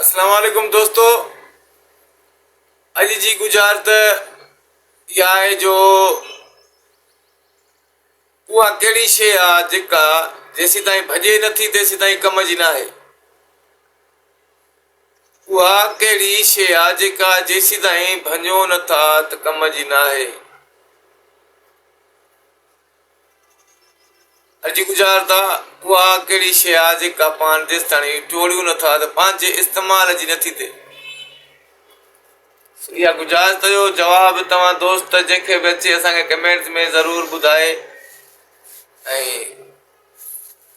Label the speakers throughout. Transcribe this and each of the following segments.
Speaker 1: اسلام عليڪم دوستو اڄ جي گجارت اها آهي جو اها ڪهڙي شيء آهي جيڪا جيسين تائين ڀڄي نٿي تيسين تائين ڪم جي نه آهي اها ڪهڙي شيء آهي جيڪا جيسين تائين ڀڃو نٿا ته ڪم جي نه آهي اڄ گذار ته اها ڪهڙي شيء آهي جيڪا پاڻ جيستاڻي ٽوڙيون نه ٿا ته پنهنجي استعمال جي نه ٿي ٿئي. سو اها گذار ته جو جواب توهان دوست جنهن کي به اچي اسان کي ڪمينٽس ۾ ضرور ٻڌائي ۽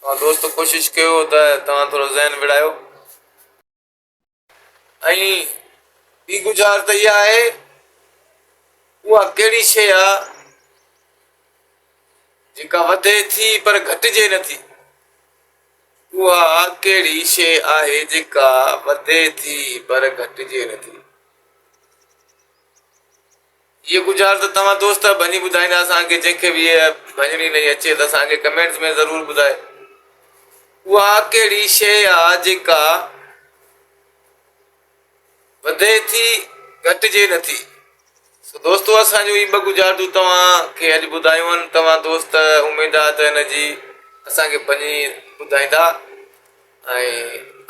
Speaker 1: توهان دوست ڪوشش ڪيو ته توهان ٿورو ذهن وڙايو. ۽ ٻي گذار ته اها آهي اها ڪهڙي شيء آ جيڪا وڌي ٿي پر گهٽجي نه ٿي اها ڪهڙي شيء آهي جيڪا وڌي ٿي پر گهٽجي نه ٿي هيء گذار ته توهان دوست ڀڃي ٻڌائيندا اسان کي جنهن کي به هيء ڀڃڻي نئين اچي ته اسان کي ڪمينٽس ۾ ضرور ٻڌائي اها ڪهڙي شيء آ جيڪا وڌي ٿي گهٽجي نه ٿي سو دوستو اسان جون هي ٻه گذارتون توهان کي اڄ ٻڌايون آهن توهان دوست اميد آ ته هن جي اسان کي ڀڃي ٻڌائيندا ۽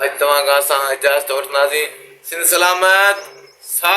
Speaker 1: اڄ توهان کان اسان اجازت وٺنداسين سنڌ سلامت ساٿ